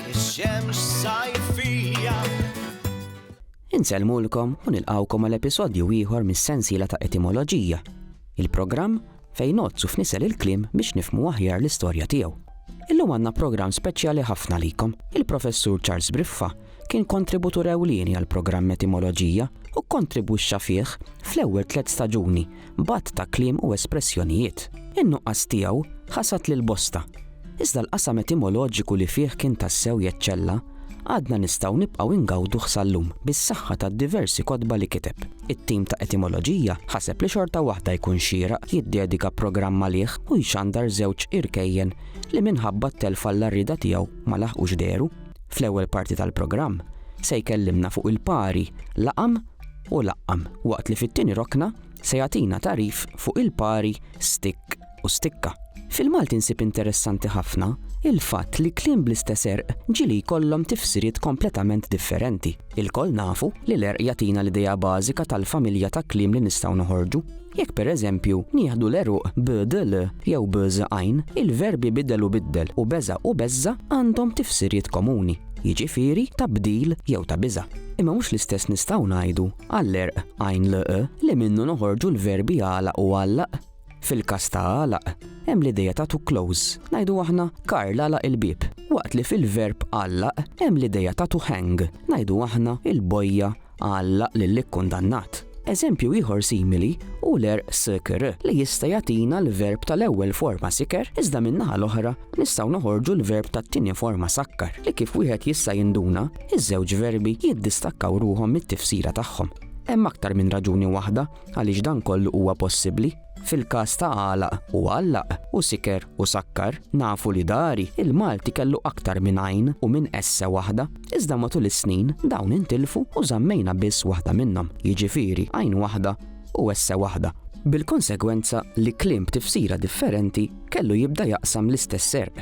Ix-xemx sajfija. Insellmulkom u nilqawkom għal episodju ieħor mis-sensiela ta' Etimoloġija, il-programm fejn nozzu f'nisel il-kliem biex nifmu aħjar l-istorja tiegħu. Illum għandna programm speċjali ħafna likom. Il-Professur Charles Briffa kien kontributur ewlieni għal programm Etimoloġija u kontribwixxa fih fl-ewwel tliet staġuni b'għadd ta' kliem u espressjonijiet. In-nuqqas tiegħu ħasad lil bosta, iżda l-qasam etimoloġiku li fih kien tassew jeċċella għadna nistgħu nibqgħu ingawduh sal-lum bis-saħħa tad-diversi kotba li kiteb. It-tim ta' etimoloġija ħaseb li xorta waħda jkun xieraq jiddedika programm għalih u jxandar żewġ irkejjen li minħabba t-telf għall-għarrieda tiegħu ma laħqux dehru. Fl-ewwel parti tal-programm se jkellimna fuq il-pari, laqam u laqqam, waqt li fit-tieni rokna se jagħtina tagħrif fuq il-pari stikk u stikka. Fil-Malti nsib interessanti ħafna il-fatt li kliem bl-istess erq ġieli jkollhom tifsiriet kompletament differenti. Ilkoll nafu li l-erq jagħtina l-idea bażika tal-familja ta' kliem li nistgħu noħorġu. Jekk pereżempju nieħdu l-għeruq bdl jew bż għajn, il-verbi bidel u biddel u beża' u beżża' għandhom tifsiriet komuni, jiġifieri ta' bdil jew ta' biża'. Imma mhux l-istess nistgħu ngħidu għall-għerq għajn lq li minnu noħorġu l-verbi għalaq u għallaq. Fil-każ ta' għalaq, hemm l-idea ta' to close, ngħidu aħna Karl għalaq il-bieb, waqt li fil-verb għallaq hemm l-idea ta' to hang, ngħidu aħna il-bojja Għallaq lill-ikkundannat. Eżempju ieħor simili hu l-għerq sykr, li jista' jagħtina l-verb tal-ewwel forma siker iżda min-naħa l-oħra nistgħu noħorġu l-verb tat-tieni forma sakkar li kif wieħed jista' jinduna, iż-żewġ verbi jiddistakkaw ruħhom mit-tifsira tagħhom. Hemm aktar minn raġuni waħda għaliex dan kollu huwa possibbli. Fil-każ ta' għalaq u għallaq u siker u sakkar, nafu li dari, il-Malti kellu aktar minn għajn u minn esse waħda, iżda matul is-snin dawn intilfu u żammejna biss waħda minnhom, jiġifieri għajn waħda u esse waħda, bil-konsegwenza li kliem b'tifsira differenti kellu jibda jaqsam l-istess serq.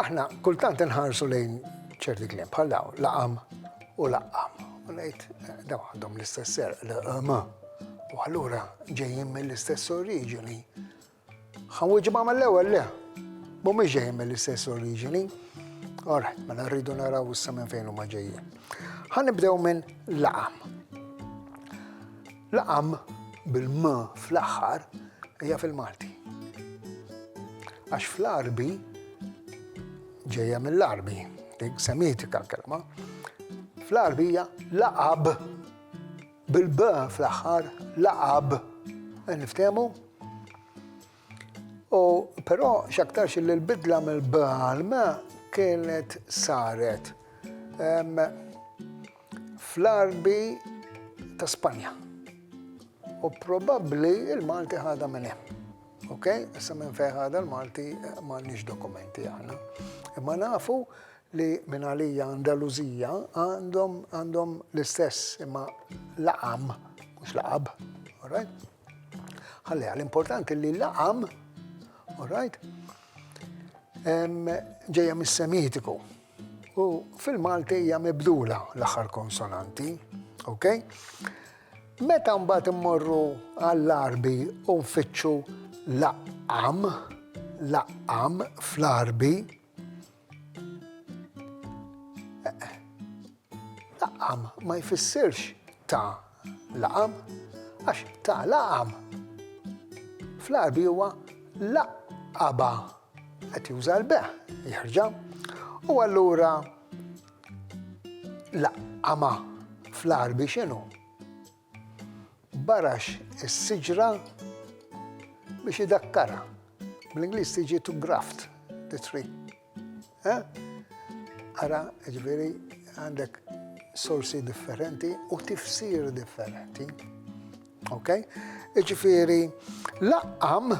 Aħna kultant inħarsu lejn ċerti kliem bħal daw, laqam u laqam. U ngħid eh, daw għandhom l-istess ser l-qama. U allura ġejjin mill-istess oriġini. Ħawġi ma mill-ewwel le. Mhumiex ġejjin mill-istess oriġini. Alright, mela rridu naraw issa minn fejn huma ġejjin. Ħanibdew minn laqam. L-am bil-m fl-aħħar hija fil-Malti. Għax fl-Arbi ġejja mill-Arbi, dik semitika kelma. Fl-Arbi hija laqab bil-b fl-aħħar laqab. Niftehmu? U però x'aktarx li l-bidla mill-b għal m kienet saret fl-Għarbi ta' Spanja. U probabbli il-Malti ħadha minn hemm. Ok? Issa minn fejn ħadha l-Malti m'għandniex dokumenti aħna. Imma nafu li minn għalija Andaluzija għandhom għandhom l-istess imma laqam, mhux laqab, alright? Ħalliha l-importanti li laqam, all right, ġejja mis-Semitiku. U fil-Malti hija mibdula l-aħħar konsonanti, ok? Meta mbagħad immorru għall-arbi u nfittxu laqam, laqam fl-arbi, Laqam ma jfissirx ta' laqam, għax ta' laqam fl-arbi huwa laqaba qed juża l-beħ jerġa' u allura laqama fl-arbi x'inhu? Barax is-siġra biex idakkarha. Bl-Ingliż tiġi to graft the tree. Ara, ġifieri għandek sorsi differenti u tifsir differenti. Ok? Ġifieri laqqam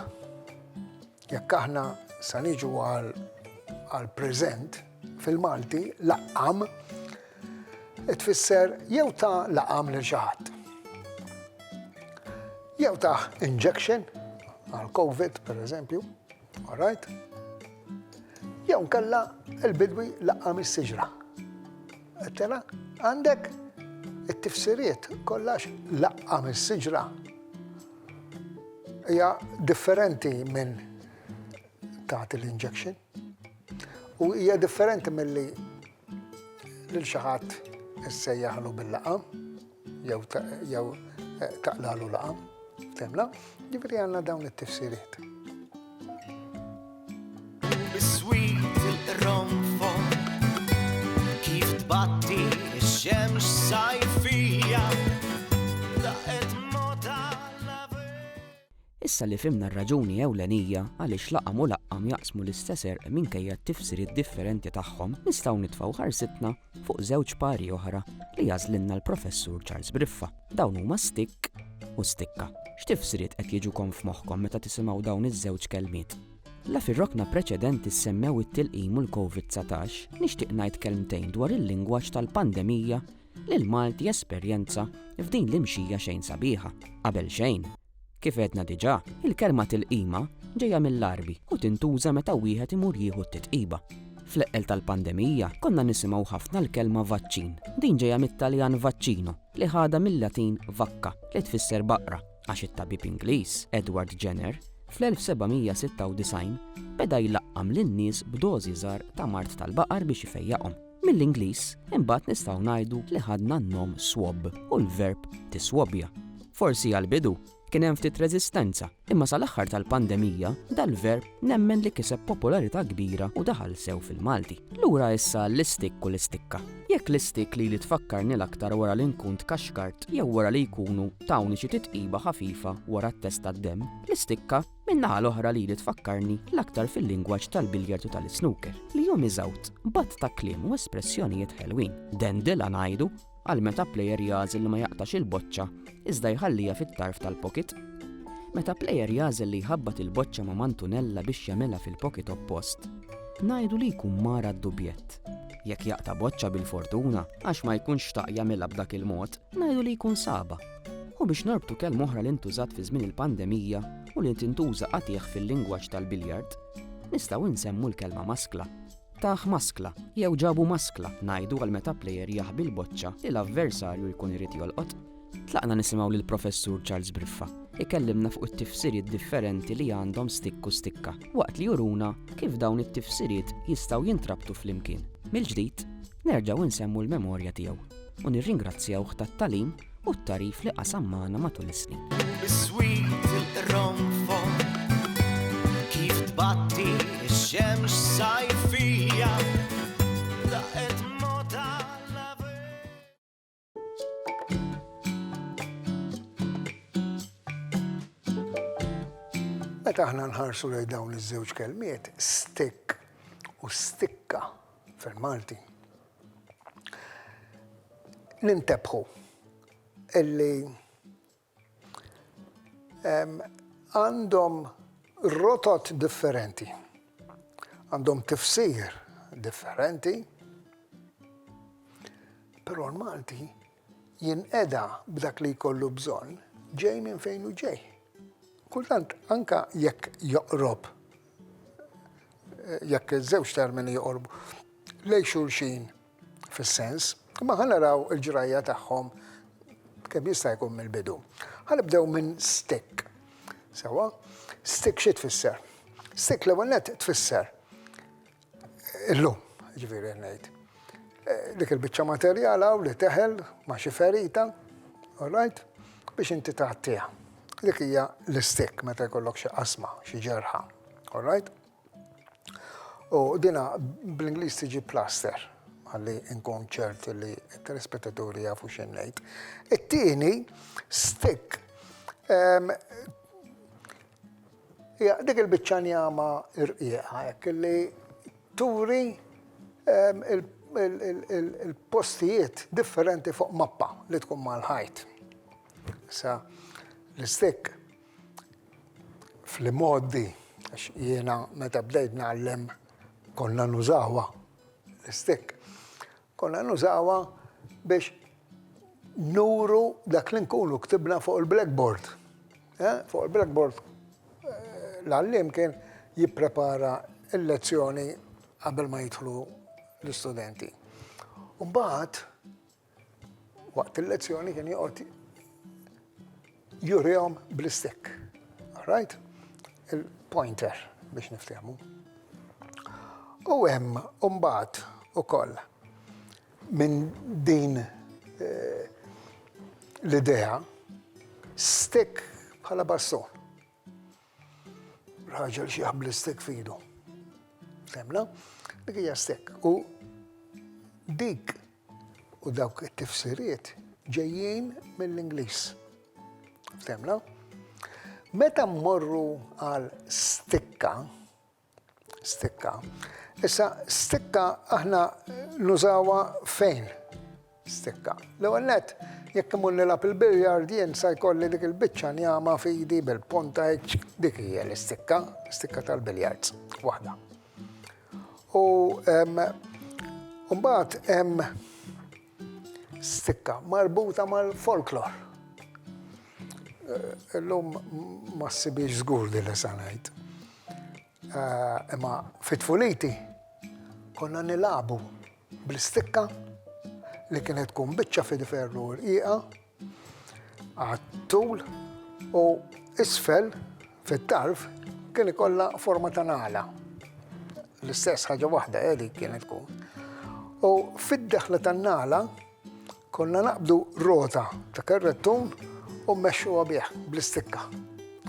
Jekk aħna sa niġu għal preżent fil-Malti laqqam tfisser jew ta' laqam lil xi ħadd. Jew ta' injection għal COVID per eżempju, alright? Jew kella il-bidwi laqam is-siġra. Tela, għandek it-tifsiriet kollax laqqa minn siġra hija differenti minn tagħti l-injection u hija differenti milli lil xi ħadd issejjaħlu bil-laqam. jew taqlalu laqam, temla, ġifri għanna dawn it-tifsiriet. Biswit il-romfon, kif tbatti xemx sajfija, daqet moda Issa li fimna r-raġuni ewlenija għaliex laqam u laqqam jaqsmu l-istess erq minkejja t-tifsiriet differenti tagħhom, nistgħu nitfgħu ħarsitna fuq żewġ pari oħra li għażlilna l-Professur Charles Briffa. Dawn huma stikk u stikka. X'tifsiriet qed jiġukom f'moħħkom meta tisimgħu dawn iż-żewġ kelmiet? La fir-rokna preċedenti semmew it-tilqim u l-COVID-19, nixtieq ngħid kelmtejn dwar il-lingwaġġ tal-pandemija li l-Malti jesperjenza f'din l-imxija xejn sabiħa. Qabel xejn, Kif għedna diġà, il-kelma tilqima ġejja mill-Għarbi u tintuża meta wieħed imur jieħu t-titqiba. Fl-eqqel tal-pandemija konna nisimgħu ħafna l-kelma vaċċin. Din ġejja mit-Taljan vaccino li ħadha mil-Latin vacca li tfisser baqra għax it-tabib Ingliż, Edward Jenner, fl-1796 beda jlaqqam lin-nies b'dożi żgħar ta' mard tal-baqar biex ifejjaqhom. Mill-Ingliż, imbagħad nistgħu ngħidu li ħadna n-nom swab u l-verb tiswabja. Forsi għall-bidu kien hemm ftit reżistenza, imma sal-aħħar tal-pandemija dal-verb nemmen li kiseb popolarità kbira u daħal sew fil-Malti. Lura issa l-istikk u l-istikka. Jekk l-istikk lili tfakkarni l-aktar wara li nkun tkaxkart jew wara li jkunu tawni xi titqiba ħafifa wara t-test tad-demm, l-istikka Min-naħa l-oħra lili tfakkarni l-aktar fil-lingwaġġ tal-biljard u tal-isnooker, li jom iżgħut b'għadd ta' kliem u espressjonijiet ħelwin. Dendilla ngħidu għal meta plejer jagħżel li ma jaqtax il-boċċa iżda jħalliha fit-tarf tal-pocket. Meta plejer jagħżel li jħabbat il-boċċa ma' mantunella biex jagħmilha fil-pocket oppost, ngħidu li jkun mara d-dubjett. Jekk jaqta' boċċa bil-fortuna għax ma jkunx xtaq jagħmilha b'dak il-mod, ngħidu li jkun saba. u biex norbtu kelma oħra li ntużat fi żmien il-pandemija u li tintuża qatigħ fil-lingwaġġ tal-biljard, nistgħu nsemmu l-kelma maskla. Taħ maskla jew ġabu maskla ngħidu għal meta plejer jaħbi l-boċċa li l-avversarju jkun irid jolqot. Tlaqna nisimgħu lil professur Charles Briffa ikellimna fuq it-tifsiriet differenti li għandhom stikku stikka, waqt li juruna kif dawn it-tifsiriet jistgħu jintrabtu flimkien. Mill-ġdid, nerġgħu nsemmu l-memorja tiegħu u nirringrazzjawh tat-talim u t-tagħrif li qasam magħna matul is-snin. Biswit il-qronfon kif tbatti x-xemx sajfija daqet moda Meta aħna nħarsu lejn dawn iż-żewġ kelmiet, stick u stikka fil-Malti. Nintebħu illi għandhom rotot differenti, għandhom tifsir differenti, però l-Malti jinqeda b'dak li jkollu bżonn ġej minn fejn hu ġej. Kultant anka jekk joqrob jekk iż-żewġ termini joqorbu lej xulxin fis-sens, imma ħa naraw il-ġrajja tagħhom kemm jista' jkun mill-bidu. Ħa nibdew minn stick. Sewa, stick xi tfisser? Stick l-ewwel net tfisser Illum, jiġifieri qed ngħid. Dik il-biċċa materjal hawn li teħel ma' xi ferita, all right, biex inti tgħattiha. Dik hija l-istick meta jkollok xi qasma, xi ġerħa, all right. U dina bl-Ingliż tiġi plaster ħalli nkun ċert li t-telespettaturi jafu x'in ngħid. It-tieni stick ehm, Hija dik il-biċċa njama rqieqa hekk li turi l-postijiet differenti fuq mappa li tkun mal-ħajt. Issa l-istikk fl-imgħoddi għax jiena meta bdejt ngħallem konna nużawha l-istikk. Konna nużawha biex nuru dak li nkunu ktibna fuq il-blackboard. Fuq il-blackboard l-għalliem kien jipprepara l-lezzjoni qabel ma jidħlu l-istudenti. U mbagħad waqt il-lezzjoni kien joqgħod jurihom bl-istikk. Right? Il-pointer biex niftehmu. U hemm mbagħad ukoll minn din eh, l-idea stick bħala baston. Raġel xi jaħbli stek fidu. Femna? Dik hija stek. U dik u dawk it-tifsiriet ġejjin mill-Ingliż. Femna? Meta mmorru għal stikka, Stikka. Issa, stikka aħna nużawa fejn? Stikka. L-ewwel net, jekk imur nilab il-biljard jien sa jkolli dik il-biċċa njama fidi bil-ponta hekk dik hija l-istikka, stikka tal-biljards, waħda. U mbagħad hemm stikka marbuta mal-folklor. Illum ma ssibhiex żgur din li se ngħid. Eh, imma fit-tfuliti konna nilagħbu bl-istikka li kienet tkun biċċa fil-ferru rqiqa Għattul u isfel fit-tarf kien ikollha forma ta' nala. L-istess ħaġa waħda edi eh, kienet tkun. U fid-daħla tan-nala konna naqbdu rota ta' kerrettun u mmexxu bih bl-istikka.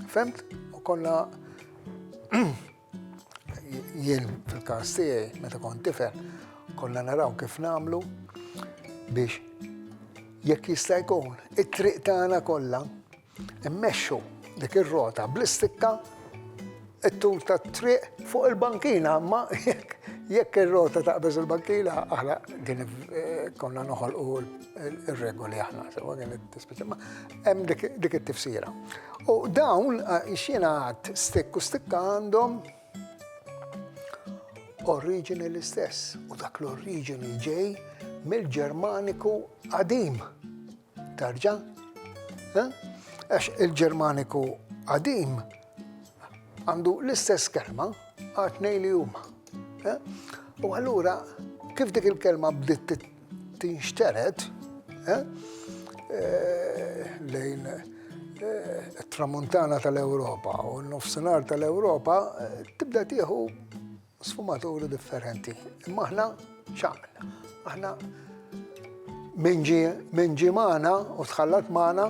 Femt? U konna Jien fil-każ tiegħi meta kont tifel konna naraw kif nagħmlu biex jekk jista' jkun it-triq tagħna kollha immexxu dik ir-rota bl-istikka it-tul ta' triq fuq il-bankina, ma jekk ir-rota ta' beż il-bankina, aħna din eh, konna noħolqu il-regoli aħna, sewa kien it-tispeċi. Hemm dik it-tifsira. U dawn eh, xina għad stikk u stikka għandhom oriġini l-istess u dak l-oriġini ġej mill-Ġermaniku qadim. Tarġa? Eh? Għax il-Ġermaniku qadim għandu l-istess kelma għatnej li huma. Eh? U allura kif dik il-kelma bdiet Tinxtered eh, eh, lejn eh, tramuntana tal-Ewropa u n-nofsinhar tal-Ewropa tibda tieħu sfumaturi differenti. Imma aħna xaqna. Aħna minn ġi magħna u tħallat magħna